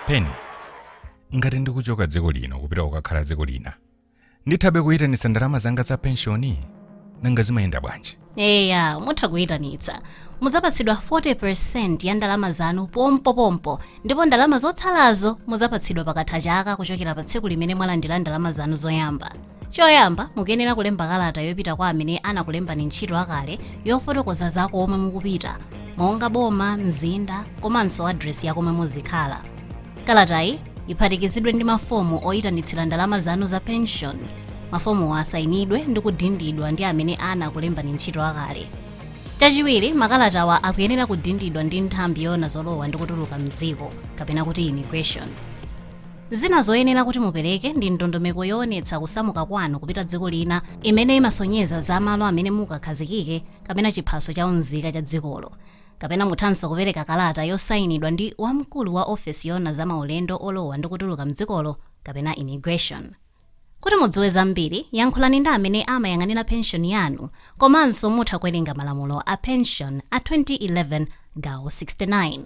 peni ngati ndikuchoka dziko lino kupita kukakhala dziko lina ndithabe kuyitanitsa ndalama zanga za penshoni nanga zimayenda bwanji eya mutha kuyitanitsa muzapatsidwa 40% ya ndalama zanu pompopompo ndipo ndalama zotsalazo muzapatsidwa pakatha chaka kuchokera pa tsiku limene mwalandira ndalama zanu zoyamba choyamba mukuyenera kulemba kalata yopita kwa amene anakulembani ntchito akale yofotokoza za komwe mukupita monga boma mzinda komanso adresi ya komwe muzikhala Kalatayi iphatikizidwe ndi mafomu oyitanitsira ndalama zanu za penshoni. Mafomuwa asayinidwe ndi kudindidwa ndi amene anakulembani ntchito akale. Chachiwiri, makalatawa akuyenera kudindidwa ndi nthambi yoona zolowa ndi kutuluka m'dziko, kapena kuti immigration. Zina zoyenera kuti mupereke ndi ndondomeko yoonetsa kusamuka kwanu kupita dziko lina imene imasonyeza za malo amene mukakhazikike kapena chiphaso cha unzika cha dzikolo. Kapena muthanso kupereka kalata yosainidwa ndi wamkulu wa ofesi yoona za maulendo olowa ndi kutuluka m'dzikolo kapena Immigration. Kuti mudziwe zambiri, yankhulani ndi amene amayang'anira penshoni yanu komanso mutha kuwerenga malamulo a penshoni a 2011 gawo 69.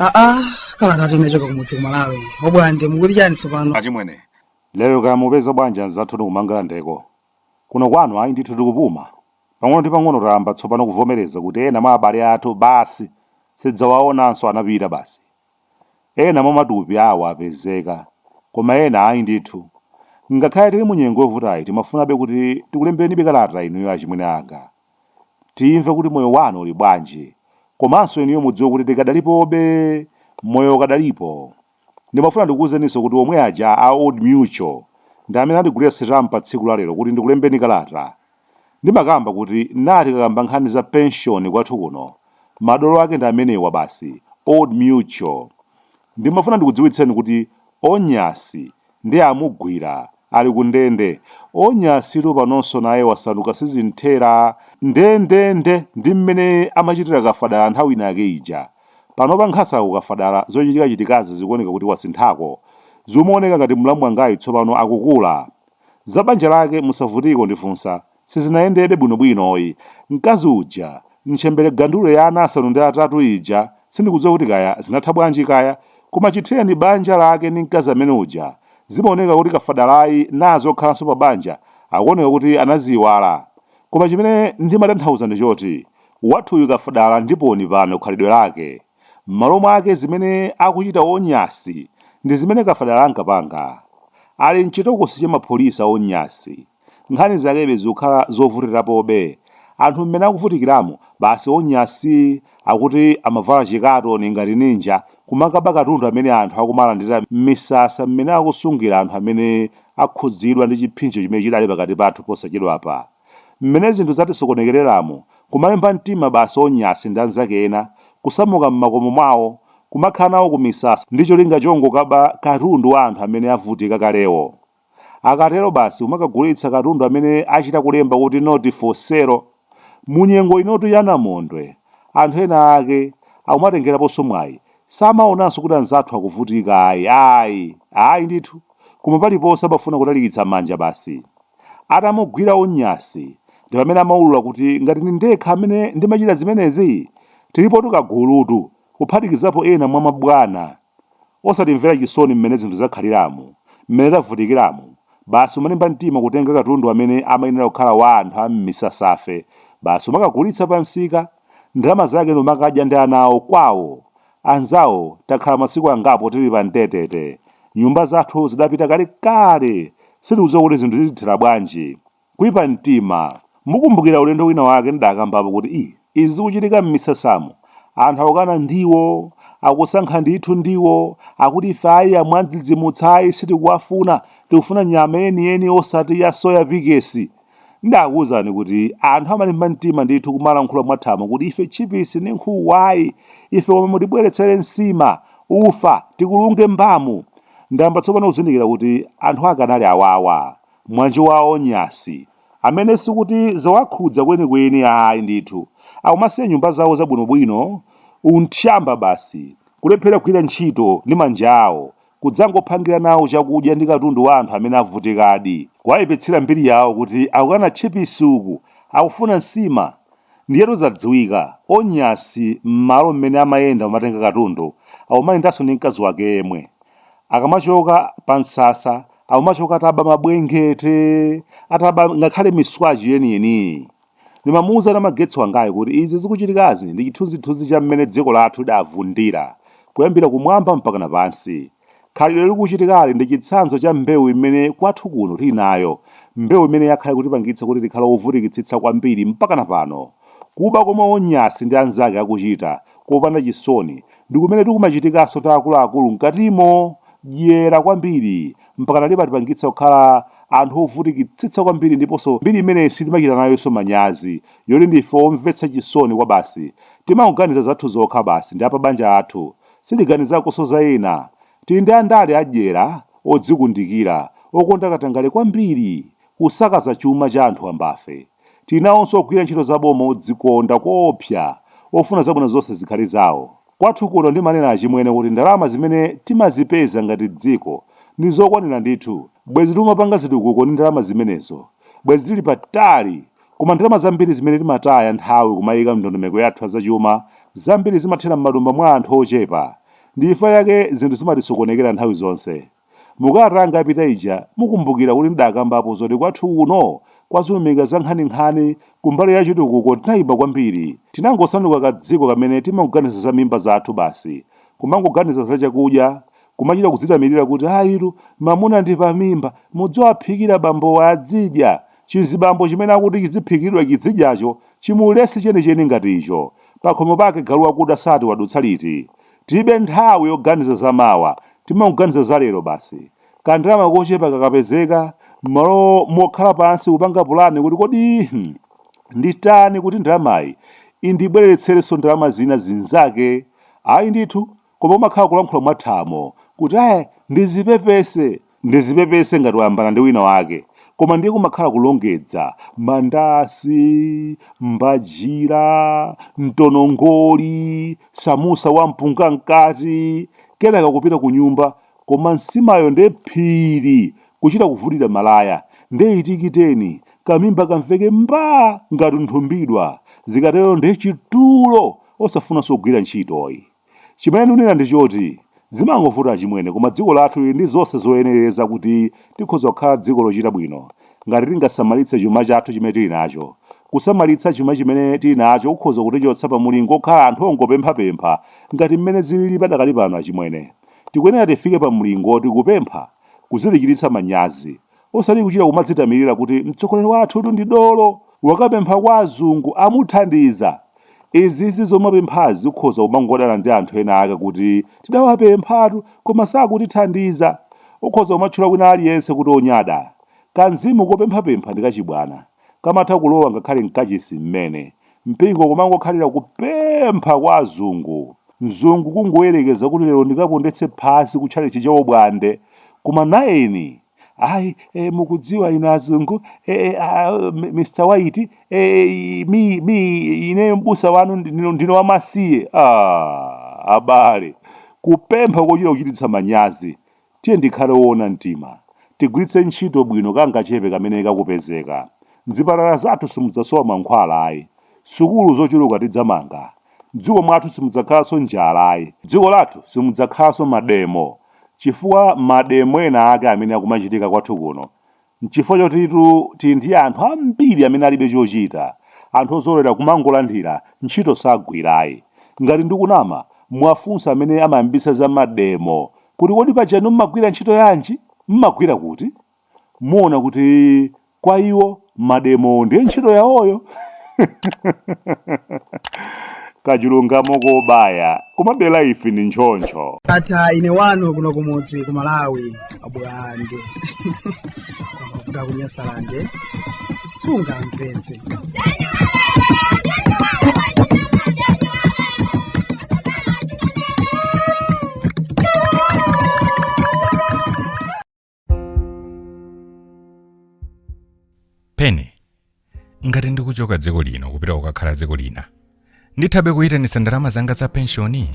aa kalata timachoka kumudzi kumalawi obwande mukuti chani tsopano achimwene lero kaya mupeza bwanji anzathu kumangalandeko kuno kwanu ayi ndithu tikupuma pang'ono ndi pang'ono tayamba tsopano kuvomereza kuti ena mwa abale athu basi sidzawaonanso anapita basi Ena mwa matupi awo apezeka, koma ena ayi ndithu. Ngakhale tili mu nyengo yovutayi timafunabe kuti tikulemberenibe kalata inuyo achimwene anga. Timve kuti moyo wanu uli bwanji, komanso inuyo mudziwe kuti tikadalipobe, moyo ukadalipo. Ndimafuna ndikuuzeninso kuti omwe aja a Old Mutual ndi amene andigulira sitampa tsiku la lero kuti ndikulembeni kalata. Ndimakamba kuti nnati tikakamba nkhani za pension kwathu kuno madolo ake ndi amenewa basi old mutual. Ndimafuna ndikudziwitseni kuti Onyasi nde amugwira ali ku ndende. Onyasitu panonso naye wasanduka sizimthera. Ndendende ndi mmene amachitira Kafadala nthawi inayake ija. Panopa nkhasako Kafadala zochitika chitikazi zikuoneka kuti wasinthako. Zimaoneka ngati mlamu wangayu tsopano akukula Za banja lake musavutike kundifunsa, sizinayendebe bwinobwinoyi. Mkazi uja, ntchembere gandulo ya ana asanu ndi atatu ija, sindikudziwa kuti kaya zinatha bwanji kaya, koma chithereni banja lake ndi mkazi amene uja, zimaoneka kuti kafadalayi naye zokhalanso pa banja, akuoneka kuti anaziiwala. Koma chimene ndimatanthauza ndi choti, wathuyu kafadala ndiponi pano khalidwe lake. M'malo mwake zimene akuchita Onyasi ndi zimene Kafadala ankapanga. Ali m'chitokosi cha mapholisa Onyasi. Nkhani zakebe zikukhala zovutirapobe. Anthu mmene akuvutikiramu, basi Onyasi akuti amavala chikatoni ngati ninja kumakaba katundu amene anthu akumalandira m'misasa mmene akusungira anthu amene akhudzidwa ndi chipsinjo chimene chidali pakati pathu posachedwapa. Mmene zinthu zatisokonekereramu, kumalimba mtima basi onyasi ndi anzake ena, kusamuka mmakomo mwawo, kumakhala nawo ku misasa ndi cholinga chongokaba katundu wa anthu amene avutika kalewo. Akatero basi kumakagulitsa katundu amene achita kulemba kuti not for sale. Munyengo inotu ya namondwe, anthu ena ake akumatengeraponso mwayi Samaonanso kuti anzathu akuvutika ayi, ayi, ayi ndithu, koma paliponse amafuna kutalikitsa manja basi. Atamugwira Onyasi, ndi pamene amaulula kuti ngati ndi ndekha amene ndimachita zimenezi? Tilipotu kagulutu, kuphatikizapo ena mwa mabwana. Osatimvera chisoni mmene zinthu zakhaliramu, mmene tavutikiramu, basi umalimba mtima kutenga katundu amene amayenera kukhala wa anthu a m'misasafe basi umakagulitsa pamsika, Ndalama zake ndikumakadya ndi ana awo kwawo. Anzawo takhala masiku angapo tili pa mtetete. Nyumba zathu zidapita kalekale. Sitikudziwa kuti zinthu zitithera bwanji. Kuipa mtima. Mukumbukira ulendo wina wake ndidakambapo kuti ii izi zikuchitika mmisasamu? Anthu akukana ndiwo, akusankha ndithu ndiwo, akuti ife ayi amwandzidzimutsa ayi sitikuwafuna, tikufuna nyama yeniyeni osati ya soya pikesi. Ndakuuzani kuti anthu amalimba mtima ndithu kumalankhula mwathamo kuti ife tchipisi ndi nkhuku ayi. Ife koma mutibweretsere nsima, ufa, tikulunge mbamu. Ndayamba tsopano kuzindikira kuti anthu ake anali awawa. Mwanji wa Onyasi. Amene sikuti zawakhudza kwenikweni ayi ndithu. Akumasiya nyumba zawo zabwinobwino, unthyamba basi, kulephera kugwira ntchito ndi manja awo, kudzangophangira nawo chakudya ndi katundu wa anthu amene avutikadi, kuwayipitsira mbiri yawo kuti akukana tchipisi uku akufuna nsima, ndiyetu zadziwika, onyasi mmalo mmene amayenda kumatenga katundu akumayendanso ndi mkazi wake yemwe, akamachoka pa msasa akumachoka ataba mabulangete, ataba ngakhale miswachi yeniyeniyi. Ndimamuuza Namagetsi wangayu kuti izi zikuchitikazi ndi chithunzithunzi cha mmene dziko lathu lidavundira kuyambira kumwamba mpakana pansi. Khalidwe likuchitikali ndi chitsanzo cha mbewu imene kwathu kuno tili nayo, mbewu imene yakhala ikutipangitsa kuti tikhale ovutikitsitsa kwambiri mpakana pano. Kuba komwe Onyasi ndi anzake akuchita kopanda chisoni ndi kumene kukumachitikanso kwa akuluakulu mkatimo. Dyera kwambiri. mpakana limatipangitsa kukhala anthu ovutikitsitsa kwambiri ndiponso mbiri imene sitimachita nayonso manyazi yoti ndife omvetsa chisoni kwabasi timangoganiza zathu zokha basi ndi apabanja athu sitiganizakonso za ena tili ndi andale adyera odzikundikira okonda katangale kwambiri kusakaza chuma cha anthu wambafe Tili nawonso ogwira ntchito za boma odzikonda koopsa ofuna zabwino zonse zikhale zawo. Kwathu kuno ndimanena achimwene kuti ndalama zimene timazipeza ngati dziko ndi zokwanira ndithu, bwezi tikumapanga zitukuko ndi ndalama zimenezo, bwezi tili patali koma ndalama zambiri zimene timataya nthawi kumayika m'ndondomeko yathu ya zachuma zambiri zimathera m'matumba mwa anthu ochepa, ndichifukwa chake zinthu zimatisokonekera nthawi zonse. Mu kalata yanga yapita ija, mukumbukira kuti ndidaakambapo zoti kwathu kuno nzeru ndi zankhaninkhani kumbali ya chitukuko tinaima kwambiri. Tinangosanduka kadziko kamene timangoganiza za mimba zathu basi, kumangoganiza za chakudya, kumachita kudzitamirira kuti ayitu, mamuna ndi pamimba, mudziwaphikira bambowa adzidya, chizibambo chimene akuti chidziphikiridwa chidzidyacho chimulesi chenicheni ngati icho, pakhomo pake galu wakuda sati wadutsa liti? Tilibe nthawi yoganiza za mawa, timangoganiza za lero basi. Kandalama kochepa kakapezeka, m'malo mokhala pansi kupanga pulani kuti kodi hmm, nditani kuti ndalamayi indibwereretserenso ndalama zina zinzake? Ayi ndithu, koma kumakhala kulankhula mwathamo kuti ayi, ndizipepese, Ndizipepese ngati wayambana ndi wina wake koma ndiye kumakhala kulongedza, mandasi, mbajira, mtonongoli, samusa wa mpunga mkati, kenaka kupita kunyumba koma nsimayo nde phiri kuchita kuvulira malaya nde itikiteni kamimba kamveke mbaa ngati nthumbidwa zikatero nde chitulo osafunanso kugwira ntchito ayi. Chimene ndikunena ndi choti zimangovuta achimwene koma dziko lathu lili ndi zonse zoyenereza kuti tikhoza kukhala dziko lochita bwino ngati tingasamalitse chuma chathu chimene tili nacho. Kusamalitsa chuma chimene tili nacho kukhoza kutichotsa pa mulingo okhala anthu ongopemphapempha ngati mmene zilili padakali pano achimwene. Tikuyenera tifike pa mulingo oti kupempha kuzitichititsa manyazi. osati kuchita kumadzitamirira kuti mtsogoleri wathutu ndi dolo wakapempha kwa azungu amuthandiza izizi zomapemphazi ukhoza kumangodana ndi anthu ena ake kuti tidawapemphatu koma sakutithandiza ukhoza kumatchula wina aliyense kuti onyada kamzimu kopemphapempha ndi kachibwana kamatha kulowa ngakhale mkachisi mmene Mpingo kumangokhalira kupempha kwa azungu. Mzungu kungoyerekeza kuti lero ndikapondetse phazi ku tchalitchi cha Bwande. Koma nayeni, ayi, e, mukudziwa inu azungu, e, e, a, M- Mr. White, e, i- mi, mi, ineyo mbusa wanu ndine, ndine wamasiye. Ah, abale, kupempha kochita kuchititsa manyazi. Tiyeni tikhale oona mtima. Tigwiritse ntchito bwino kangachepe kamene kakupezeka. Mzipatala zathu simudzasowa mankhwala ayi. Sukulu zochuluka tidzamanga. Mdziko mwathu simudzakhalanso njala ayi. Mdziko lathu simudzakhalanso mademo. Chifukwa mademo ena ake amene akumachitika kwathu kuno N'chifukwa chotitu tili ndi anthu ambiri amene alibe chochita, anthu ozolowera kumangolandira, ntchito sagwirayi. Ngati ndikunama, muwafunse amene amayambitsa za mademo kuti kodi paja inu m'magwira ntchito yanji? M'magwira kuti? Muona kuti kwa iwo mademowo ndiye ntchito yawoyo. kachilungamo kobaya komabe life ni choncho atha ine wanu kuno kumudzi ku malawi a bwande kuvuta ku nyasalande sungamvetse pene ngati ndikuchoka dziko lino kupita kukakhala dziko lina ndithabe kuyitanitsa ndalama zanga za penshoni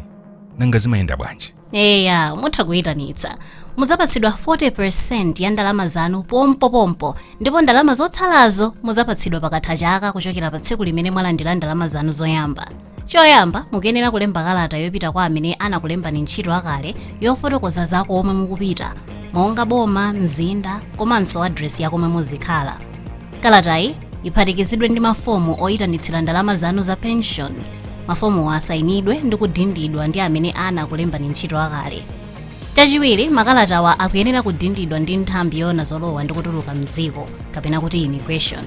nanga zimayenda bwanji eya mutha kuyitanitsa mudzapatsidwa 40% ya ndalama zanu pompopompo ndipo ndalama zotsalazo mudzapatsidwa pakatha chaka kuchokera pa tsiku limene mwalandira ndalama zanu zoyamba choyamba mukuyenera kulemba kalata yopita kwa amene anakulembani ntchito akale yofotokoza za komwe mukupita monga boma mzinda komanso adresi ya komwe muzikhala kalatayi iphatikizidwe ndi mafomu oyitanitsira ndalama zanu za pension mafomuwa asayinidwe ndi kudindidwa ndi amene anakulembani ntchito akale chachiwiri makalatawa akuyenera kudindidwa ndi nthambi yoona zolowa ndi kutuluka mdziko kapena kuti immigration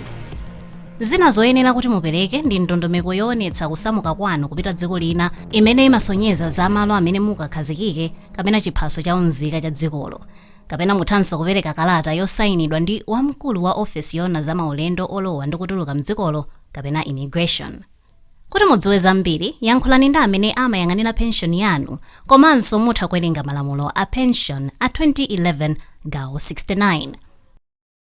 Zina zoyenera kuti mupereke ndi ndondomeko yoonetsa kusamuka kwanu kupita dziko lina imene imasonyeza za malo amene mukakhazikike kapena chiphaso cha unzika cha dzikolo. Kapena muthanso kupereka kalata yosainidwa ndi wamkulu wa ofesi yoona za maulendo olowa ndi kutuluka m'dzikolo kapena Immigration. Kuti mudziwe zambiri, yankhulani ndi amene amayang'anira penshoni yanu komanso mutha kuwerenga malamulo a penshoni a 2011 gawo 69.